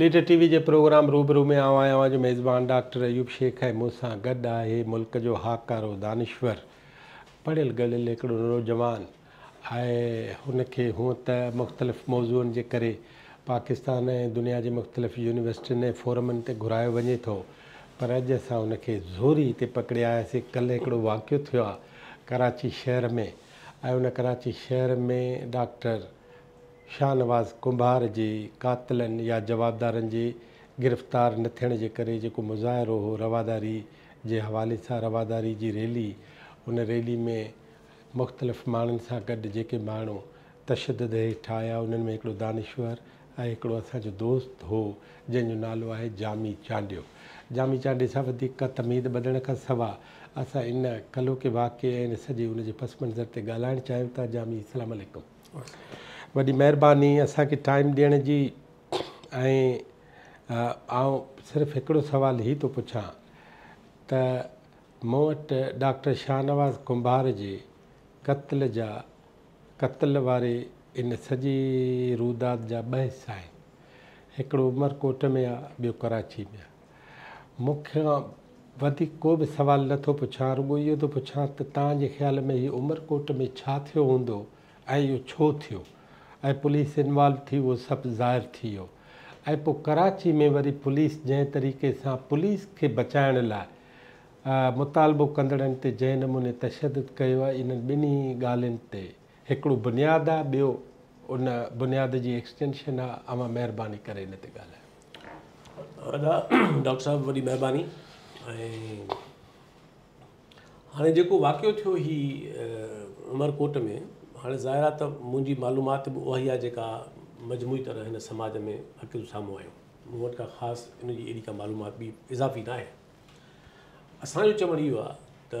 Leader T V جي program روبرو ۾ آئون آهيان اوهان جو ميزبان ڊاڪٽر ايوب شيخ ۽ مون سان گڏ آهي ملڪ جو هاڪارو دانشور پڙهيل ڳڙهيل هڪڙو نوجوان آهي هن کي هونء ته مختلف موضوعن جي ڪري پاڪستان ۽ دنيا جي مختلف يونيورسٽين ۽ فورمن تي گهرايو وڃي ٿو پر اڄ اسان هن کي زوري هتي پڪڙي آياسين ڪلهه هڪڙو واقعو ٿيو آهي ڪراچي شهر ۾ ۽ ان ڪراچي شهر ۾ ڊاڪٽر شاهنواز ڪنڀار جي قاتلن يا جوابدارن جي گرفتار نه ٿيڻ جي ڪري جيڪو مظاهرو هو رواداري جي حوالي سان رواداري جي ريلي ان ريلي ۾ مختلف ماڻهن سان گڏ جيڪي ماڻهو تشدد هيٺ آيا انهن ۾ هڪڙو دانشور ۽ هڪڙو اسان جو دوست هو جنهن جو نالو آهي جامي چانڊيو جامي چانڊي سان وڌيڪ ڪا تمهيد ٻڌڻ کان سوا اسان ان ڪلهوڪي واقعي ۽ سڄي ان جي پس منظر تي ڳالهائڻ چاهيون ٿا جامي اسلام عليڪم. وڏي مهرباني اسان کي ٽائيم ڏيڻ جي ۽ آئون صرف هڪڙو سوال هي ٿو پڇان ته مون وٽ ڊاڪٽر شاهنواز ڪنڀار جي قتل جا قتل واري ان سڄي روداد جا ٻه حصا آهن هڪڙو عمرڪوٽ ۾ آ ٻيو ڪراچي ۾ آ مون کان وڌيڪ ڪو به سوال نه ٿو پڇان، رڳو اهو ٿو پڇان ته توهان جي خيال ۾ هي عمرڪوٽ ۾ ڇا ٿيو هوندو ۽ اهو ڇو ٿيو ۽ پوليس انوالو ٿي اهو سڀ ظاهر ٿي ويو ۽ پوء ڪراچي ۾ وري پوليس جنهن طريقي سان پوليس کي بچائڻ لاء مطالبو ڪندڙن تي جنهن نموني تشدد ڪيو آهي انهن ٻنهي ڳالهين تي هڪڙو بنياد آ ٻيو ان بنياد جي ايڪسٽينشن آ اوهان مهرباني ڪري ان تي ڳالهايو. ادا ڊاڪٽر صاحب وڏي مهرباني ۽ هاڻي جيڪو واقعو ٿيو هي عمرڪوٽ ۾ هاڻي ظاهر آ ته منهنجي معلومات به اهائي آ جيڪا مجموعي طرح هن سماج ۾ اڪيل سامهون آيو مون وٽ ڪا خاص ان جي اهڙي ڪا معلومات ٻي اضافي ناهي اسان جو چوڻ اهو آ ته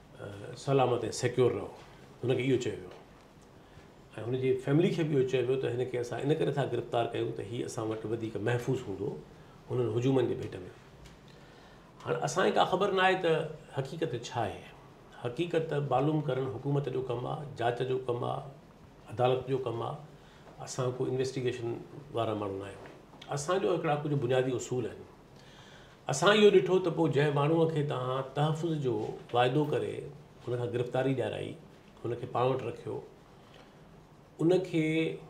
سلامت ۽ سيڪيور رهو هن کي اهو چيو ويو ۽ هن جي فيملي کي به اهو چيو ويو ته هن کي اسان ان ڪري ٿا گرفتار ڪيون ته هي اسان وٽ وڌيڪ محفوظ هوندو هنن هجومن جي ڀيٽ ۾ هاڻ اسانکي ڪا خبر نه آهي ته حقيقت ڇا آهي حقيقت معلوم ڪرڻ حڪومت جو ڪم آ جاچ جو ڪم آ عدالت جو ڪم آ اسان ڪو انويسٽيگيشن وارا ماڻهو نه آهيون اسانجو هڪڙا ڪجهه بنيادي اصول آهن اسان اهو ڏٺو ته پوء جنهن ماڻهوء کي توهان تحفظ جو واعدو ڪري هن کان گرفتاري ڏيارائي، هن کي پاڻ وٽ رکيو، ان کي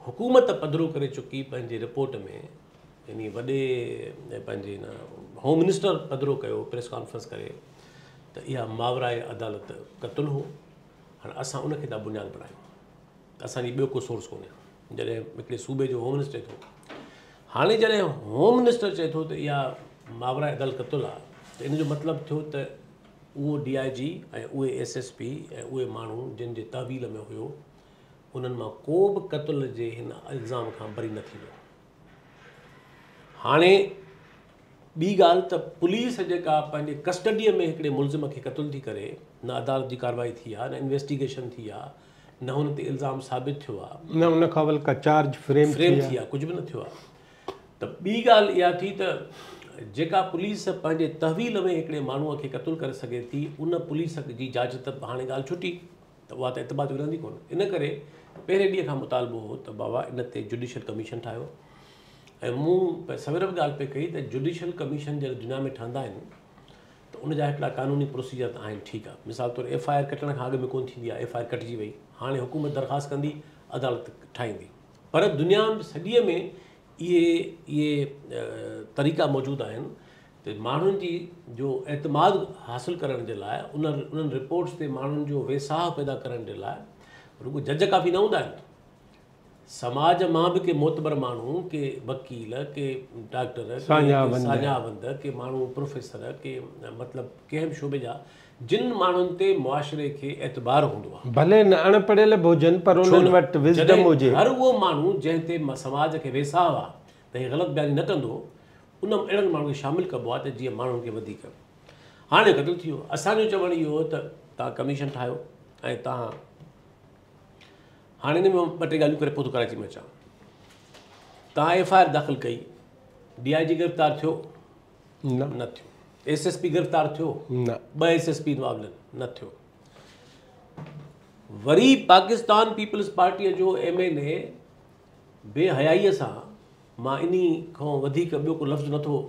حڪومت پڌرو ڪري چڪي پنهنجي رپورٽ ۾ يعني وڏي پنهنجي هن هوم منسٽر پڌرو ڪيو پريس ڪانفرنس ڪري ته اها ماورائي عدالت قتل هو هاڻي اسان ان کي ٿا بنياد بڻايون. اسان جي ٻيو ڪو سورس ڪونهي جڏهن هڪڙي صوبي جو هوم منسٽر ٿو هاڻي جڏهن هوم منسٽر چئي ٿو ته اها ماورا ادل قتل آ ته ان جو مطلب ٿيو ته اهو ڊي آء جي ۽ اهي ايس ايس پي ۽ اهي ماڻهو جن جي تحويل ۾ هيو انهن مان ڪو به قتل جي هن الزام کان بري نه ٿيندو هاڻي ٻي ڳالهه ته پوليس جيڪا پنهنجي ڪسٽڊيء ۾ هڪڙي ملزم کي قتل ٿي ڪري نه عدالت جي ڪارروائي ٿي آهي نه انويسٽيگيشن ٿي آهي نه هن تي الزام ثابت ٿيو آ. نه ان کان بلڪه چارج فريم ٿي آ. ٿي آ ڪجهه به نه ٿيو آ. ته ٻي ڳالهه اها ٿي ته جيڪا پوليس پنهنجي تحويل ۾ هڪڙي ماڻهو کي قتل ڪري سگهي ٿي ان پوليس جي جاچ ته هاڻي ڳالهه ڇٽي ته اها ته اعتبار جي رهندي ڪونه ان ڪري پهرين ڏينهن کان مطالبو هو ته بابا ان تي جوڊيشل ڪميشن ٺاهيو ۽ مون سوير به ڳالهه پئي ڪئي ته جوڊيشل ڪميشن جڏهن دنيا ۾ ٺهندا آهن ته ان جا هيٺلا قانوني پروسيجر ته آهن ٺيڪ آ مثال طور ايف آء آر ڪٽڻ کان اڳ ۾ ڪون ٿيندي آ ايف آء آر ڪٽجي وئي هاڻي حڪومت درخواست ڪندي عدالت ٺاهيندي پر دنيا سڄي ۾ اهي اهي طريقا موجود آهن ته ماڻهن جي جو اعتماد حاصل ڪرڻ جي لاء ان انهن رپورٽس تي ماڻهن جو ويساهه پيدا ڪرڻ جي لاء رڳو جج ڪافي نه هوندا آهن سماج مان به ڪي معتبر ماڻهو، ڪي وڪيل، ڪي ڊاڪٽر، ڪي ساڃاهوند، ڪي ماڻهو پروفيسر، ڪي مطلب ڪنهن به شعبي جا، جن ماڻهن تي معاشري کي اعتبار هوندو آهي. ڀلي نه اڻ پڙهيل به هجن پر انهن وٽ وزڊم هجي. جڏهن هر اهو ماڻهو جنهن تي سماج کي ويساهه آهي ته هي غلط بياني نه ڪندو، ان ۾ اهڙن ماڻهن کي شامل ڪبو آهي ته جيئن ماڻهن کي وڌيڪ هاڻي قتل ٿي ويو. اسان جو چوڻ اهو هو ته توهان ڪميشن ٺاهيو ۽ توهان هاڻي هن ۾ ٻه ٽي ڳالهيون ڪري پوء ٿو ڪراچي ۾ اچان توهان ايف آء آر داخل ڪئي ڊي آء جي گرفتار ٿيو نه ٿيو ایس ایس پي گرفتار ٿيو نه ٻه ایس ایس پي معاملن نه ٿيو وري پاڪستان پيپلز پارٽيء جو ايم اين اي بي حيائيء سان مان ان کان وڌيڪ ٻيو ڪو لفظ نٿو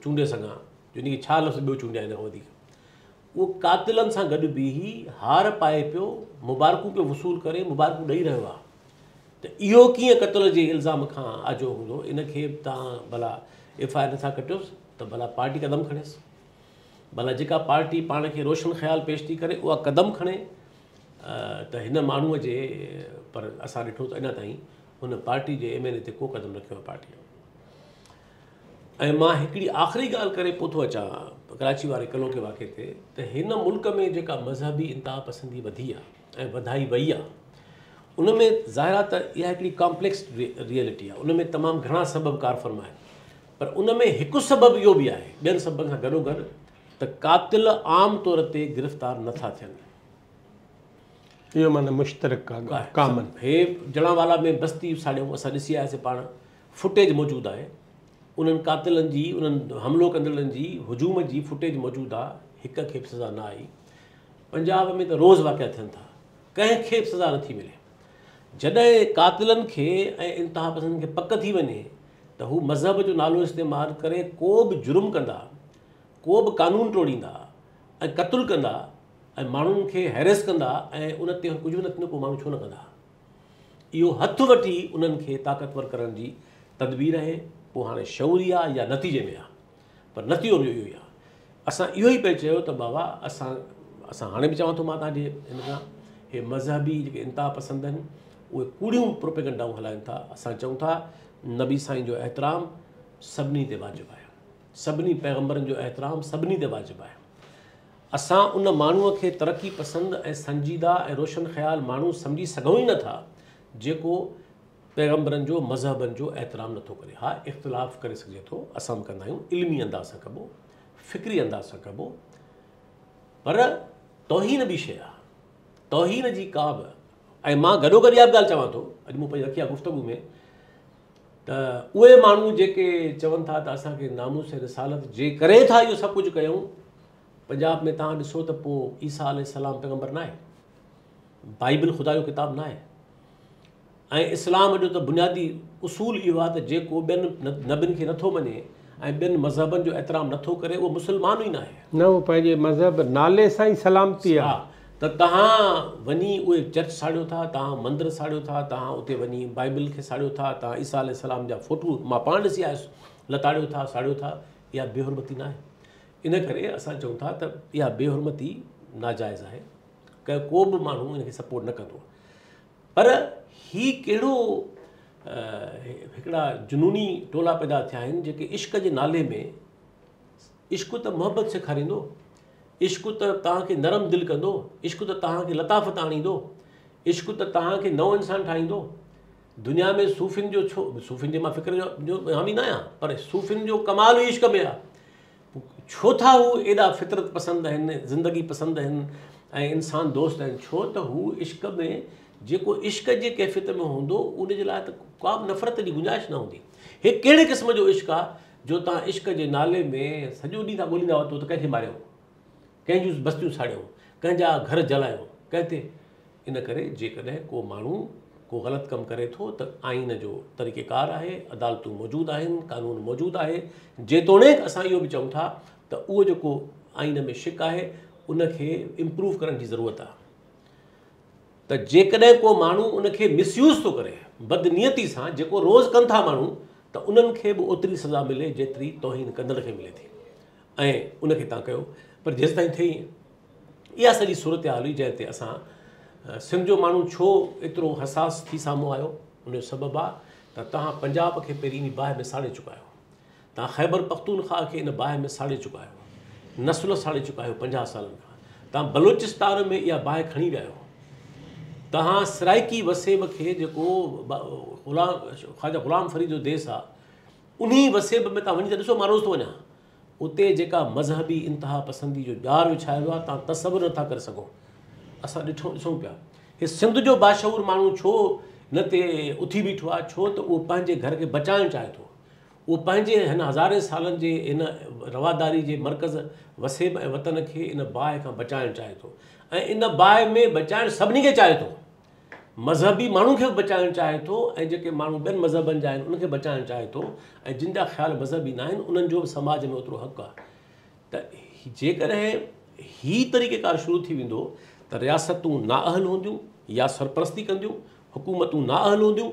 چونڊي سگھان جو ان کي ڇا لفظ ٻيو چونڊيا ان کان وڌيڪ اهو قاتلن سان گڏ بيهي هار پائي پيو مبارڪون پيو وصول ڪري مبارڪون ڏئي رهيو آهي ته اهو ڪيئن قتل جي الزام کان آجو هوندو ان کي به توهان ڀلا ايف آء آر نٿا ڪٽيوس ته ڀلا پارٽي قدم کڻيس ڀلا جيڪا پارٽي پاڻ کي روشن خيال پيش ٿي ڪري اها قدم کڻي ته هن ماڻهوء جي پر اسان ڏٺو ته اڃا تائين هن پارٽي جي ايم اين اي تي ڪو قدم رکيو پارٽي ۽ مان هڪڙي آخري ڳالهه ڪري پوء ٿو اچان ڪراچي واري قلعو ڪي واقعي تي ته هن ملڪ ۾ جيڪا مذهبي انتها پسندي وڌي آهي ۽ وڌائي وئي آهي ان ۾ ظاهر آهي ته اها هڪڙي ڪامپليڪس ريئلٽي آهي ان ۾ تمام گهڻا سبب ڪار فرما آهن پر ان ۾ هڪ سبب اهو به آهي ٻين سببن سان گڏو گڏ ته قاتل عام طور تي گرفتار نه ٿا ٿين اهو معنی مشترڪ ڪامن هي جڙان والا ۾ بستي ساڙيون اسان ڏسي آياسي پاڻ فوٽيج موجود آهي انهن قاتلن جي انهن حملو ڪندڙن جي هجوم جي فوٽيج موجود آ هڪ کي به سزا نه آئي پنجاب ۾ ته روز واقعا ٿين ٿا ڪنهن کي به سزا نٿي ملي جڏهن قاتلن کي ۽ انتها پسندن کي پڪ ٿي وڃي ته هو مذهب جو نالو استعمال ڪري ڪو به جرم ڪندا ڪو به قانون ٽوڙيندا ۽ قتل ڪندا ۽ ماڻهن کي هيريس ڪندا ۽ ان تي ڪجهه به نه ٿيندو پوء ماڻهو ڇو نه ڪندا اهو هٿ وٺي انهن کي طاقتور ڪرڻ جي تدبير اهي پوء هاڻي شعوري آهي يا نتيجي ۾ آهي پر نتيجو به اهو ئي آهي اسان اهو ئي پئي چيو ته بابا اسان اسان هاڻي به چوان ٿو مان تنهنجي هن کان هي مذهبي جيڪي انتها پسند آهن اهي ڪوڙيون پروپيگنڊائون هلائن ٿا اسان چون ٿا نبي سائين جو احترام سڀني تي واجب آهي سڀني پيغمبرن جو احترام سڀني تي واجب آهي اسان ان ماڻهوء کي ترقي پسند ۽ سنجيده ۽ روشن خيال ماڻهو سمجهي سگهون ئي نه ٿا، جيڪو پيغمبرن جو، مذهبن جو احترام نه ٿو ڪري. ها اختلاف ڪري سگهجي ٿو، اسان به ڪندا آهيون، علمي انداز سان ڪبو، فڪري انداز سان ڪبو، پر توهين ٻي شيء آهي، توهين جي ڪا به ۽ مان گڏوگڏ اها به ڳالهه چوان ٿو، اڄ مون پنهنجي رکي آهي گفتگو ۾ ته اهي ماڻهو جيڪي چون ٿا ته اسان کي ناموس رسالت جي ڪري ٿا اهو سڀ ڪجهه ڪيون پنجاب ۾ توهان ڏسو ته پوء عيسيٰ عليه السلام پيغمبر ناهي بائبل خدا جو ڪتاب ناهي ۽ اسلام جو ته بنيادي اصول اهو آهي ته جيڪو ٻين نبين کي نٿو مڃي ۽ ٻين مذهبن جو احترام نٿو ڪري اهو مسلمان ئي ناهي نه اهو پنهنجي مذهب نالي سان ئي سلامتي آهي ته توهان وڃي اهي چرچ ساڙيو ٿا، توهان مندر ساڙيو ٿا، توهان اتي وڃي بائيبل کي ساڙيو ٿا، توهان عيسيٰ عليه السلام جا فوٽو، مان پاڻ ڏسي آيس، لتاڙيو ٿا، ساڙيو ٿا، اها بي حرمتي ناهي؟ ان ڪري اسان چئون ٿا ته اها بي حرمتي ناجائز آهي، ڪو به ماڻهو ان کي سپورٽ نه ڪندو. پر هي ڪهڙو هڪڙا جنوني ٽولا پيدا ٿيا آهن جيڪي عشق جي نالي ۾ عشق ته محبت سيکاريندو، عشق ته توهان کي نرم دل ڪندو، عشق ته توهان کي لطافت آڻيندو، عشق ته توهان کي نئون انسان ٺاهيندو. دنيا ۾ صوفين جو ڇو صوفين جي مان فڪر جو جو حامي نه آهيان پر صوفين جو ڪمال ئي عشق ۾ آهي. ڇو ٿا هو ايڏا فطرت پسند آهن، زندگي پسند آهن ۽ انسان دوست آهن ڇو ته هو عشق ۾ جيڪو عشق جي ڪيفيت ۾ هوندو ان جي لاء ته ڪا به نفرت جي گنجائش نه هوندي. هي ڪهڙي قسم جو عشق آهي؟ جو توهان عشق جي نالي ۾ سڄو ڏينهن ٿا ڳوليندا وتو ته ڪنهن کي ماريو، ڪنهن جون بستيون ساڙيو، ڪنهن جا گهر جلايو، ڪنهن تي؟ ان ڪري جيڪڏهن ڪو ماڻهو ڪو غلط ڪم ڪري ٿو ته آئين جو طريقيڪار آهي، عدالتون موجود آهن، قانون موجود آهي، جيتوڻيڪ اسان اهو به چئون ٿا ته اهو جيڪو آئين ۾ شق آهي ان کي امپروو ڪرڻ جي ضرورت آهي. ته جيڪڏهن ڪو ماڻهو ان کي مس يوز ٿو ڪري، بدنيتي سان، جيڪو روز ڪن ٿا ماڻهو، ته انهن کي به اوتري سزا ملي جيتري توهين ڪندڙ کي ملي ٿي ۽ ان کي تان ڪيو پر جيستائين ٿئي ائين اها سڄي صورتحال هئي جنهن تي اسان سنڌ جو ماڻهو ڇو ايترو حساس ٿي سامهون آيو ان جو سبب آ ته توهان پنجاب کي پهرين ئي باهه ۾ ساڙي چڪا آهيو توهان خيبر پختونخواهه کي ان باهه ۾ ساڙي چڪا آهيو. نسل ساڙي چڪا آهيو پنجاهه سالن کان. توهان بلوچستان ۾ اها باهه کڻي ويا آهيو. توهان سرائيڪي وسيب کي جيڪو خواجه غلام فريد جو ديس آهي انهي وسيب ۾ توهان وڃي ته ڏسو مان روز ٿو وڃان اتي جيڪا مذهبي انتها پسندي جو ڄار وڇايو آهي تان تصور نٿا ڪري سگهو اسان ڏٺو ڏسون پيا هي سنڌ جو باشعور ماڻهو ڇو نه تي اٿي بيٺو آهي ڇو ته اهو پنهنجي گهر کي بچائڻ چاهي ٿو اهو پنهنجي هن هزارين سالن جي هن رواداري جي مرڪز وسيب ۽ وطن کي ان باهه کان بچائڻ چاهي ٿو ۽ ان باهه ۾ بچائڻ سڀني کي چاهي ٿو مذهبي ماڻهن کي به بچائڻ چاهي ٿو ۽ جيڪي ماڻهو ٻين مذهبن جا آهن ان کي بچائڻ چاهي ٿو ۽ جن جا خيال مذهبي ناهن انهن جو به سماج ۾ اوترو حق آهي ته جيڪڏهن هي طريقه ڪار شروع ٿي ويندو ته رياستون نااهل هونديون يا سرپرستي ڪنديون حڪومتون نااهل هونديون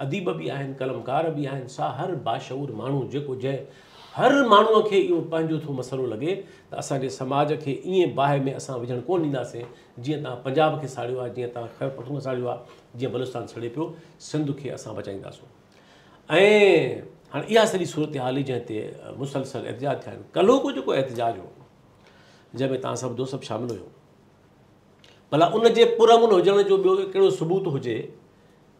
اديب به آهن، قلمڪار به آهن، سا هر باشعور ماڻهو جيڪو جنهن هر ماڻهوء کي اهو پنهنجو ٿو مسئلو لڳي ته اسان جي سماج کي ائين باهه ۾ اسان وجهڻ ڪونه ڏينداسين جيئن توهان پنجاب کي ساڙيو آهي، جيئن توهان خيبر پختونخوا ساڙيو آهي، جيئن بلوچستان سڙي پيو، سنڌ کي اسان بچائينداسون. ۽ هاڻي اها سڄي صورتحال هئي جنهن تي مسلسل احتجاج ٿيا آهن. ڪلهوڪو جيڪو احتجاج هو جنهن ۾ توهان سڀ دوست سڀ شامل هيو، ڀلا ان جي پرامن هجڻ جو ٻيو ڪهڙو ثبوت هجي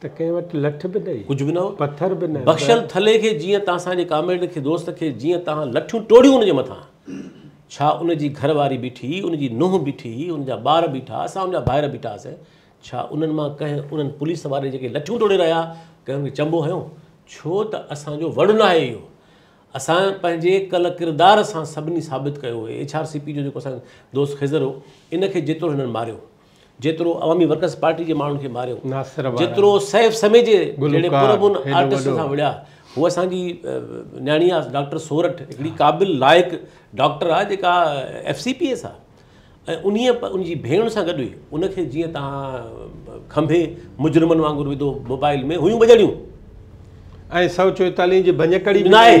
ته ڪنهن وٽ لٺ به نه. ڪجهه به نه هو. پٿر به نه. بخشل ٿلهي کي جيئن ته اسان جي ڪامريڊ کي دوست کي جيئن تهان لٺيون ٽوڙيون ان جي مٿان ڇا ان جي گهر واري بيٺي ان جي نونهن بيٺي ان جا ٻار بيٺا اسان ان جا ڀائر بيٺا هئاسين ڇا انهن مان ڪنهن انهن پوليس واري جيڪي لٺيون ٽوڙي رهيا ڪنهن ان کي چنبو هنيو ڇو ته اسان جو وڙ نه آهي اهو اسان پنهنجي ڪل ڪردار سان سڀني ثابت ڪيو اهي ايڇ آر سي پي جو جيڪو اسان جو دوست خضر هو ان کي جيتوڻ هنن ماريو جيترو عوامي ورڪرز پارٽي جي ماڻهن کي ماريو، جيترو سيف سمي جي جهڙي پرامن آرٽسٽ سان وڙهيا، هوء اسان جي نياڻي آ ڊاڪٽر سورٺ هڪڙي قابل لائق ڊاڪٽر آ جيڪا ايف سي پي ايس آ ۽ انهي ان جي ڀيڻ سان گڏ هئي ان کي جيئن تهان کنڀي مجرمن وانگر وڌو موبائل ۾ هيون بجڙيون ۽ سؤ چوئيتاليهه جي ڀڃڪڙي به ناهي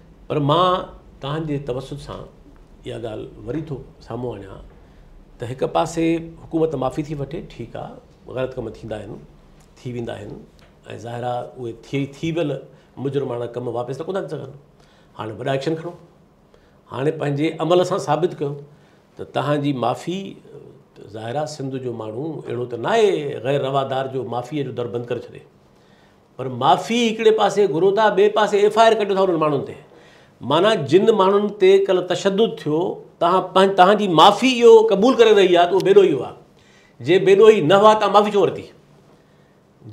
پر مان توهان جي توسط سان اها ڳالهه وري ٿو سامهون آڻيان ته هڪ پاسي حڪومت معافي ٿي وٺي ٺيڪ آ غلط ڪم ٿيندا آهن ٿي ويندا آهن ۽ ظاهر آ اهي ٿي ٿي ويل مجرماڻا ڪم واپس ته ڪونه ٿي سگهن هاڻي وڏا ايڪشن کڻو هاڻي پنهنجي عمل سان ثابت ڪيو ته توهان جي معافي ظاهر آ سنڌ جو ماڻهو اهڙو ته ناهي غير روادار جو معافيء جو در بند ڪري ڇڏي پر معافي هڪڙي پاسي گهرو ٿا ٻئي پاسي ايف آء آر ڪڍيو ٿا انهن ماڻهن تي معنيٰ جن ماڻهن تي ڪلهه تشدد ٿيو تهان تهان جي معافي اهو قبول ڪري رهي آهي ته اهو بيڏوهي هئا جي بيڏوهي نه هئا تهان معافي ڇو ورتي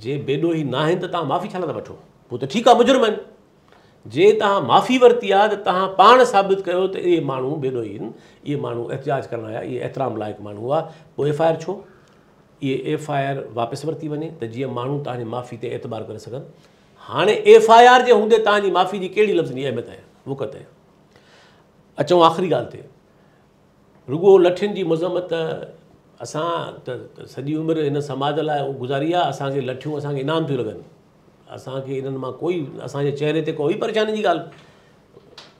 جي بيڏوهي نه آهن ته تهان معافي ڇا لاء ٿا وٺو پوء ته ٺيڪ آهي مجرم آهن جي تهان معافي ورتي آهي ته تهان پاڻ ثابت ڪيو ته اهي ماڻهو بيڏوهي آهن اهي ماڻهو احتجاج ڪرڻ آيا اهي احترام لائق ماڻهو هئا پوء ايف آء آر ڇو اهي ايف آء آر واپس ورتي وڃي ته جيئن ماڻهو توهان جي معافي تي اعتبار ڪري سگهن. هاڻي ايف آء آر جي هوندي توهان جي معافي جي ڪهڙي لفظن جي اهميت ۽ وقعت آهي. اچون آخري ڳالهه تي. رڳو لٺين جي مذمت اسان ته سڄي عمر هن سماج لاء گذاري آهي، اسان کي لٺيون اسان کي انعام ٿيون لڳن. اسان کي انهن مان ڪوئي اسان جي چهري تي ڪوئي پريشاني جي ڳالهه.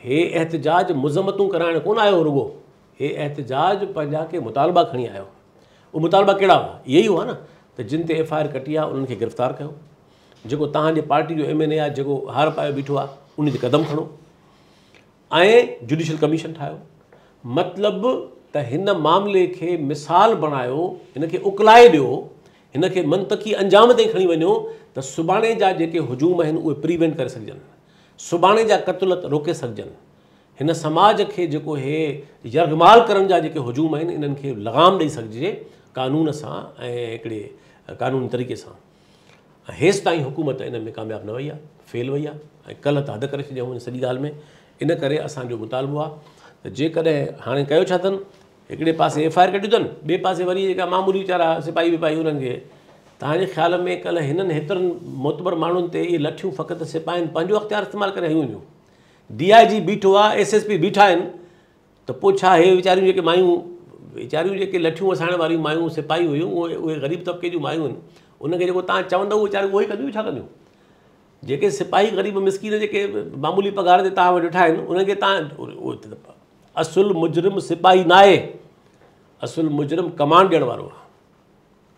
هي احتجاج مذمتون ڪرائڻ ڪونه آيو هو رڳو هي احتجاج پنهنجا ڪي مطالبا کڻي آيو هو اهي مطالبا ڪهڙا هئا اهي ئي هئا نه ته جن تي ايف آء آر ڪٽي آهي انهن کي گرفتار ڪيو جيڪو تهان جي پارٽي جو ايم اين اي آهي جيڪو هار پايو بيٺو آهي ان تي قدم کڻو ۽ جوڊيشل ڪميشن ٺاهيو مطلب ته هن معاملي کي مثال بڻايو هن کي اڪلائي ڏيو هن کي منطقي انجام تائين کڻي وڃو ته سڀاڻي جا جيڪي هجوم آهن اهي پريوينٽ ڪري سگهجن سڀاڻي جا قتلت روڪي سگهجن. هن سماج کي جيڪو هي يرغمال ڪرڻ جا جيڪي هجوم آهن انهن کي لغام ڏئي سگهجي قانون سان ۽ هڪڙي قانوني طريقي سان. هيس تائين حڪومت ان ۾ ڪامياب نه وئي آهي فيل وئي آهي ۽ ڪلهه ته حد ڪري ڇڏيائون ان سڄي ڳالهه ۾ ان ڪري اسان جو مطالبو آهي ته جيڪڏهن هاڻي ڪيو ڇا اٿن هڪڙي پاسي ايف آء آر ڪڍيون اٿن ٻئي پاسي وري جيڪا معمولي ويچارا سپاهي وپاهي انهن کي تهانجي خيال ۾ ڪلهه هنن هيترن معتبر ماڻهن تي اهي لٺيون فقط سپاهين پنهنجو اختيار استعمال ڪري هنيون هيون ڊي آء جي بيٺو آ ايس ايس پي بيٺا آهن ته پوء ڇا هي ويچاريون جيڪي مايون ويچاريون جيڪي لٺيون وسائڻ واريون مايون سپاهي هيون اهي اهي غريب طبقي جون مايون آهن انهن کي جيڪو تان چوندو اهو ويچاريون اهو ئي ڪنديون ٻيو ڇا ڪنديون جيڪي سپاهي غريب مسڪين جيڪي معمولي پگهار تي تان وٽ ويٺا آهن انهن کي تان اصل مجرم سپاهي ناهي اصل مجرم ڪمانڊ ڏيڻ وارو آهي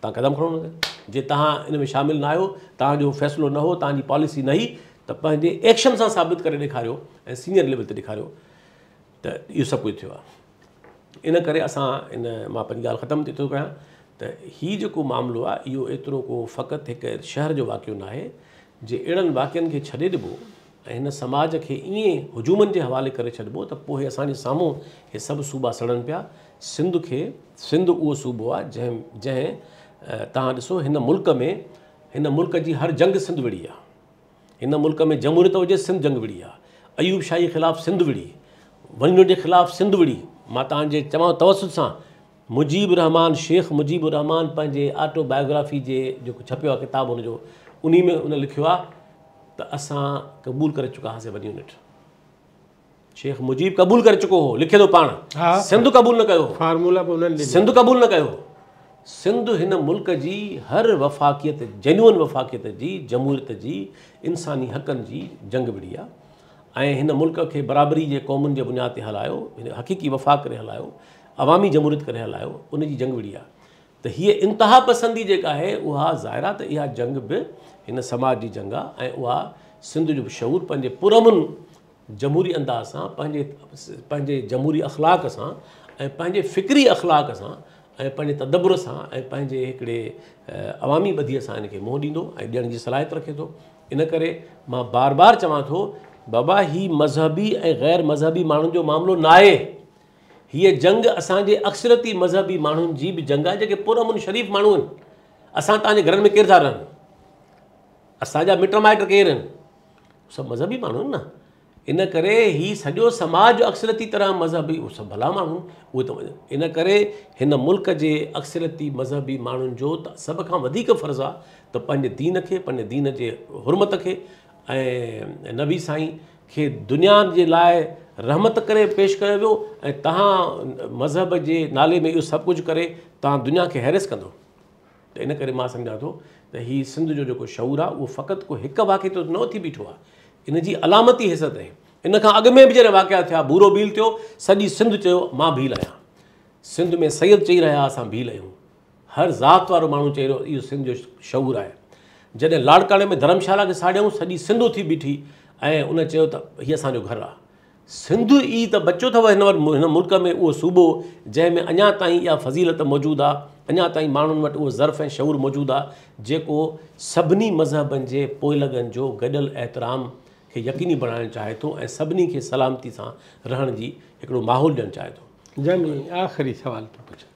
تان قدم کڻو نه جي تان ان ۾ شامل نه آهيو تان جو فيصلو نه هو تان جي پاليسي نه هي ته پنهنجي ايڪشن سان ثابت ڪري ڏيکاريو ۽ سينئر ليول تي ڏيکاريو ته اهو سڀ ڪجهه ٿيو آهي ان ڪري اسان ان مان پنهنجي ڳالهه ختم ٿي ٿو ڪيان ته هي جيڪو معاملو آهي اهو ايترو ڪو فقط هڪ شهر جو واقعو ناهي جي اهڙن واقعن کي ڇڏي ڏبو ۽ هن سماج کي ائين هجومن جي حوالي ڪري ڇڏبو ته پوء اسان جي سامهون هي سڀ صوبا سڙن پيا. سنڌ کي سنڌ اهو صوبو آهي جنهن جنهن توهان ڏسو هن ملڪ ۾ هن ملڪ جي هر جنگ سنڌ وڙهي آهي. هن ملڪ ۾ جمهوريت هجي سنڌ جنگ وڙهي آهي. ايوب شاهي خلاف سنڌ وڙهي. ونڊو جي خلاف سنڌ وڙهي. مان توهان جي چوان توسط سان مجيب الرحمان، شيخ مجيب الرحمان پنهنجي آٽو بائيوگرافي جي جيڪو ڇپيو آهي ڪتاب هن جو انهي ۾ هن لکيو آهي ته اسان قبول ڪري چڪا هئاسين ون يونٽ شيخ مجيب قبول ڪري چڪو هو لکي ٿو پاڻ سنڌ قبول نه ڪيو هو فارمولا به انهن ڏنو سنڌ قبول نه ڪيو هو سنڌ هن ملڪ جي هر وفاقيت جينون وفاقيت جي جمهوريت جي انساني حقن جي جنگ وڙهي آهي ۽ هن ملڪ کي برابري جي قومن جي بنياد تي هلايو حقيقي وفاق ڪري هلايو عوامي جمهوريت ڪري هلايو ان جي جنگ وڙهي آهي ته هيء انتها پسندي جيڪا آهي اها ظاهر آهي ته اها جنگ به هن سماج جي جنگ آهي ۽ اها سنڌ جو شعور پنهنجي پرامن جمهوري انداز سان پنهنجي پنهنجي جمهوري اخلاق سان ۽ پنهنجي فڪري اخلاق سان ۽ پنهنجي تدبر سان ۽ پنهنجي هڪڙي عوامي ٻڌيء سان ان کي منهن ڏيندو ۽ ڏيڻ جي صلاحيت رکي ٿو ان ڪري مان بار بار چوان ٿو بابا هي مذهبي ۽ غير مذهبي ماڻهن جو معاملو ناهي هيء جنگ اسان جي اڪثريتي مذهبي ماڻهن جي به جنگ آهي جيڪي پرامن شريف ماڻهو آهن. اسان توهان جي گهرن ۾ ڪير ٿا رهن؟ اسان جا مٽ مائٽ ڪير آهن؟ سڀ مذهبي ماڻهو آهن نه. ان ڪري هي سڄو سماج جو اڪثريتي طرح مذهبي اهي سڀ ڀلا ماڻهو آهن اهي ته ان ڪري هن ملڪ جي اڪثريتي مذهبي ماڻهن جو ته سڀ کان وڌيڪ فرض آهي ته پنهنجي دين کي پنهنجي دين جي حرمت کي ۽ نبي سائين کي دنيا جي لاء رحمت ڪري پيش ڪيو ويو ۽ تهان مذهب جي نالي ۾ اهو سڀ ڪجهه ڪري تهان دنيا کي هيريس ڪندو ته ان ڪري مان سمجهان ٿو ته هي سنڌ جو جيڪو شعور آهي اهو فقط ڪو هڪ واقعي تي نه اٿي بيٺو آهي ان جي علامتي حيثيت آهي ان کان اڳ ۾ به جڏهن واقعا ٿيا ڀورو ڀيل ٿيو سڄي سنڌ چيو مان ڀيل آهيان سنڌ ۾ سيد چئي رهيا اسان ڀيل آهيون هر ذات وارو ماڻهو چئي رهيو اهو سنڌ جو شعور آهي. جڏهن لاڙڪاڻي ۾ ڌرمشالا کي ساڙيائون سڄي سنڌ اٿي بيٺي ۽ ان چيو ته هي اسان جو گهر آهي. سنڌ ئي ته بچيو اٿو هن وٽ هن ملڪ ۾ اهو صوبو جنهن ۾ اڃا تائين اها فضيلت موجود آهي اڃا تائين ماڻهن وٽ اهو ظرف ۽ شعور موجود آهي جيڪو سڀني مذهبن جي پوئلڳن جو گڏيل احترام کي يقيني بڻائڻ چاهي ٿو ۽ سڀني کي سلامتي سان رهڻ جي هڪڙو ماحول ڏيڻ چاهي ٿو. جنهن ۾ آخري سوال ٿو پڇان.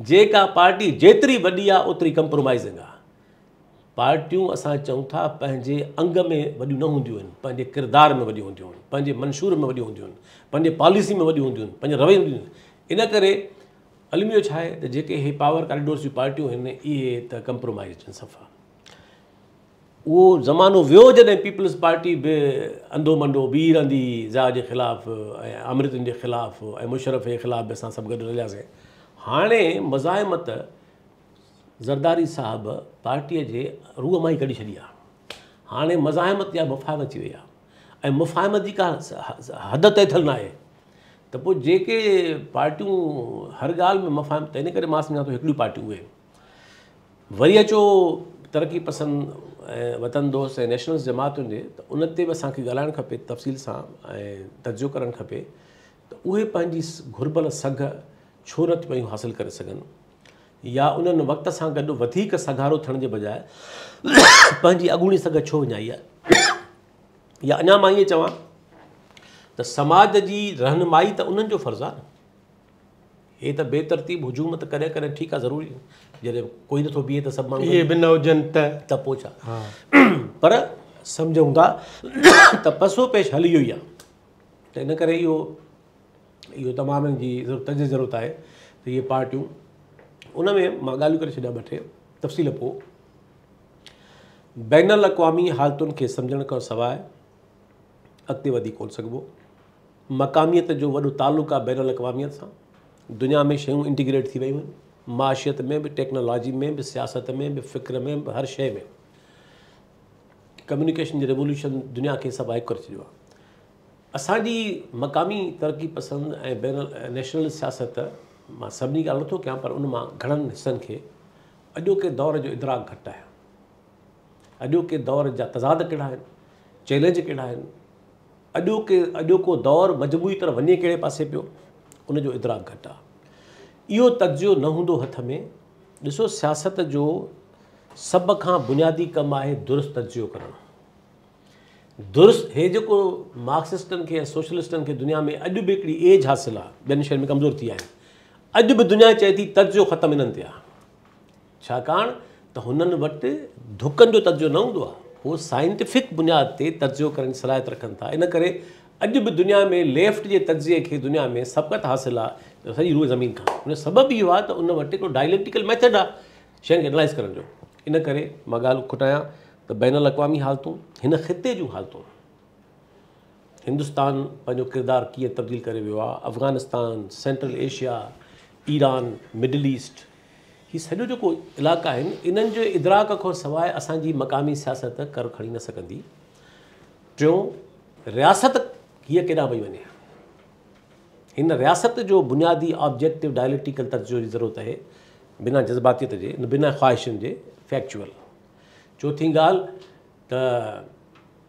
جيڪا پارٽي جيتري وڏي آ اوتري ڪمپرومائزنگ آ. پارٽيون اسان چئون ٿا پنهنجي انگ ۾ وڏيون نه هونديون آهن پنهنجي ڪردار ۾ وڏيون هونديون آهن پنهنجي منشور ۾ وڏيون هونديون آهن پنهنجي پاليسي ۾ وڏيون هونديون آهن پنهنجي رويي ۾ وڏيون هونديون آهن ان ڪري الميو ڇا آهي ته جيڪي هي پاور ڪاريڊورس جون پارٽيون آهن اهي ته ڪمپرومائزڊ آهن صفا اهو زمانو ويو جڏهن پيپلز پارٽي به انڌو منڊو بيهي رهندي هئي ضياء جي خلاف ۽ آمريتن جي خلاف ۽ مشرف جي خلاف به اسان سڀ گڏ رلياسين هاڻي مزاحمت زرداري صاحب پارٽي جي روح مان ئي ڪڍي ڇڏي آهي هاڻي مزاحمت يا مفاهمت ٿي وئي آهي ۽ مفاهمت جي ڪا حد طئي ٿيل ناهي ته پوء جيڪي پارٽيون هر ڳالهه ۾ مفاهمت ته ان ڪري مان سمجهان ٿو هڪڙيون پارٽيون اهي وري اچو ترقي پسند ۽ وطن دوست ۽ نيشنلس جماعت هجي ته ان تي به اسان کي ڳالهائڻ کپي تفصيل سان ۽ تجزيو ڪرڻ کپي ته اهي پنهنجي گهربل سگهه ڇو نه پيون حاصل ڪري سگهن يا انهن وقت سان گڏ وڌيڪ سگهارو ٿيڻ جي بجاء پنهنجي اڳوڻي سگهه ڇو وڃائي آهي يا اڃا مان ائين چوان ته سماج جي رهنمائي ته انهن جو فرض آهي هي ته بي ترتيب هجوم ته ڪڏهن ڪڏهن ٺيڪ آ ضروري جڏهن ڪوئي نٿو بيهي ته سڀ ماڻهو اهي به نه هجن ته ته پوء ڇا پر سمجهون ٿا ته پسو پيش حل اهو ئي آ ته ان ڪري اهو اهو تمام جي تجزي جي ضرورت آهي ته اهي پارٽيون ان ۾ مان ڳالهيون ڪري ڇڏيا ٻه ٽي تفصيل پوء بين الاقوامي حالتن کي سمجهڻ کان سواء اڳتي وڌي ڪون سگهبو مقاميت جو وڏو تعلق آهي بين الاقواميت سان، دنيا ۾ شيون انٽيگريٽ ٿي ويون آهن، معاشيت ۾ به، ٽيڪنالاجي ۾ به، سياست ۾ به، فڪر ۾ به، هر شيء ۾ ڪميونيڪيشن جي ريولوشن دنيا کي سڀ هڪ ڪري ڇڏيو آهي. اسان جي مقامي ترقي پسند ۽ بين النيشنل سياست مان سڀني جي ڳالهه نٿو ڪيان پر ان مان گهڻن حصن کي اڄوڪي دور جو ادراڪ گهٽ آهي. اڄوڪي دور جا تضاد ڪهڙا آهن، چئلينج ڪهڙا آهن، اڄوڪي اڄوڪو دور مجموعي طرح وڃي ڪهڙي پاسي پيو، ان جو ادراڪ گهٽ آ. اهو تجزيو نه هوندو هٿ ۾. ڏسو سياست جو سڀ کان بنيادي ڪم آهي درست تجزيو ڪرڻ. درست هي جيڪو مارڪسسٽن کي ۽ سوشلسٽن کي دنيا ۾ اڄ به هڪڙي ايج حاصل آ، ٻين شين ۾ ڪمزور ٿي ويا آهن. اڄ به دنيا چئي ٿي تجزيو ختم انهن تي آ. ڇاڪاڻ ته هنن وٽ ڌڪن جو تجزيو نه هوندو آهي، هو سائنٽيفڪ بنياد تي تجزيو ڪرڻ جي صلاحيت رکن ٿا، ان ڪري اڄ به دنيا ۾ ليفٽ جي تجزيي کي دنيا ۾ سبقت حاصل آهي ته سڄي روئي زمين کان، ان جو سبب اهو آهي ته ان وٽ هڪڙو ڊائليڪٽيڪل ميٿڊ آهي شين کي انالائز ڪرڻ جو، ان ڪري مان ڳالهه کوٽايان ته بين الاقوامي حالتون هن خطي جون حالتون. هندستان پنهنجو ڪردار ڪيئن تبديل ڪري ويو آهي Afghanistan central Asia Iran middle east هي سڄو جيڪو علائقا آهن انهن جو ادراڪ کان سواء اسانجي مقامي سياست ڪر کڻي نه سگهندي ٽيون رياست هيء ڪيڏانهن وئي وڃي هن رياست جو بنيادي آبجيڪٽو ڊائليڪل تجزيو جي ضرورت آهي بنا جذباتيت جي بنا خواهشن جي فيڪچوئل چوٿين ڳالهه ته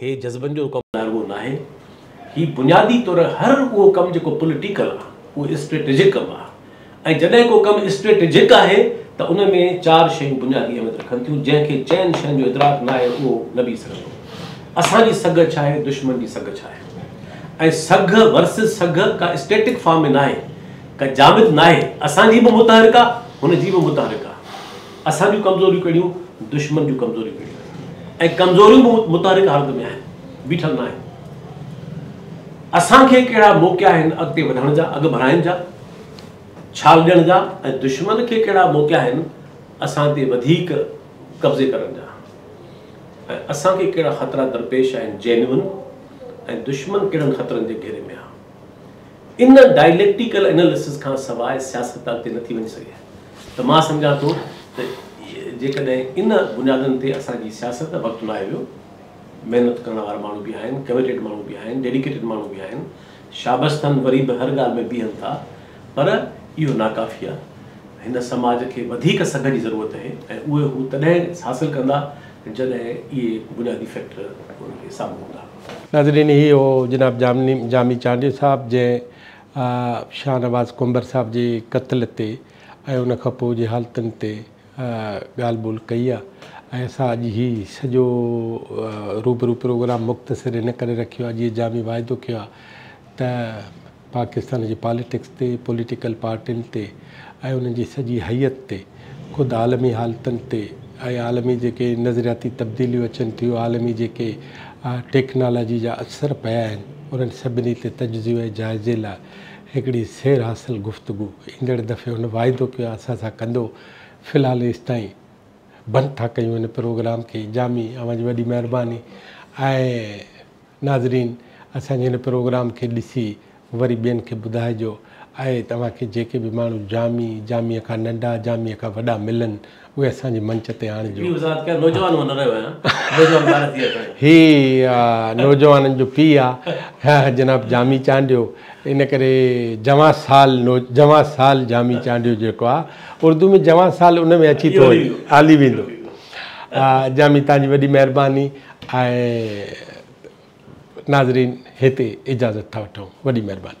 هي جذبن جو ڪم رڳو ناهي، هي بنيادي طور هر اهو ڪم جيڪو پوليٽيڪل آ، اهو اسٽريٽجڪ ڪم آ ۽ جڏهن ڪو ڪم اسٽريٽجڪ آهي ته ان ۾ چار شيون بنيادي اهميت رکن ٿيون، جنهن کي چئن شين جو ادراڪ ناهي اهو نه بيهي سگهندو. اسان جي سگهه ڇا آهي، دشمن جي سگهه ڇا آهي ۽ سگهه ورسز سگهه ڪا اسٽيٽڪ فارم ۾ ناهي، ڪا جامد ناهي، اسان جي به متحرڪ آ، هن جي به متحرڪ آ. اسان جون ڪمزوريون ڪهڙيون، دشمن جون ڪمزوريون ڪهڙيون ۽ ڪمزوريون به متحرڪ حالت ۾ آهن، بيٺل ناهن. اسان کي ڪهڙا موقعا آهن اڳتي وڌڻ جا، اڳڀرائين جا، ڇال ڏيڻ جا ۽ دشمن کي ڪهڙا موقعا آهن اسان تي وڌيڪ قبضي ڪرڻ جا ۽ اسان کي ڪهڙا خطرا درپيش آهن جينون ۽ دشمن ڪهڙن خطرن جي گهيري ۾ آهي. ان ڊائليڪٽيڪل اناليسز کان سواء سياست اڳتي نه ٿي وڃي سگهي ته مان سمجهان ٿو ته جيڪڏهن ان بنيادن تي اسان جي سياست وقت لاهي ويو محنت ڪرڻ وارا ماڻهو به آهن ڪميٽيڊ ماڻهو به آهن ڊيڊيڪيٽيڊ ماڻهو به آهن شابستن وري به هر ڳالهه ۾ بيهن ٿا پر اهو ناڪافي آهي هن سماج کي وڌيڪ سگهه جي ضرورت آهي ۽ اهي هو تڏهن حاصل ڪندا جڏهن اهي بنيادي فيڪٽر انهن کي سامهون هوندا ناظرين هي هو جناب جامي چانڊيو صاحب جنهن شاهنواز ڪنڀر صاحب جي قتل تي ۽ ان کان پوء جي حالتن تي ڳالهه ٻولهه ڪئي آهي ۽ اسان اڄ هي سڄو روبرو پروگرام مختصر ان ڪري رکيو آهي جيئن جامي واعدو ڪيو آهي ته پاڪستان جي پاليٽڪس تي، پوليٽيڪل پارٽين تي ۽ انهن جي سڄي هيئت تي، خود عالمي حالتن تي ۽ عالمي جيڪي نظرياتي تبديليون اچن ٿيون، عالمي جيڪي ٽيڪنالاجي جا اثر پيا آهن، انهن سڀني تي تجزيو ۽ جائزي لاء هڪڙي سير حاصل گفتگو ايندڙ دفعي هن واعدو ڪيو آهي اسان سان ڪندو. في الحال ايستائين بند ٿا ڪيون هن پروگرام کي. جامي اوهان جي وڏي مهرباني ۽ ناظرين اسان جي هن پروگرام کي ڏسي وري ٻين کي ٻڌائجو آئي توهان کي جيڪي به ماڻهو جامي جامي کان ننڊا جامي کان وڏا ملن اهي اسان جي منچ تي آڻجو هي نوجوانن جو پي آ جناب جامي چانڊيو ان ڪري جوان سال جوان سال جامي چانڊيو جيڪو آ اردو ۾ جوان سال ان ۾ اچي ٿو وڃي هلي ويندو جامي تهان جي وڏي مهرباني آهي ناظرين هتي اجازت ٿا وٺون وڏي مهرباني.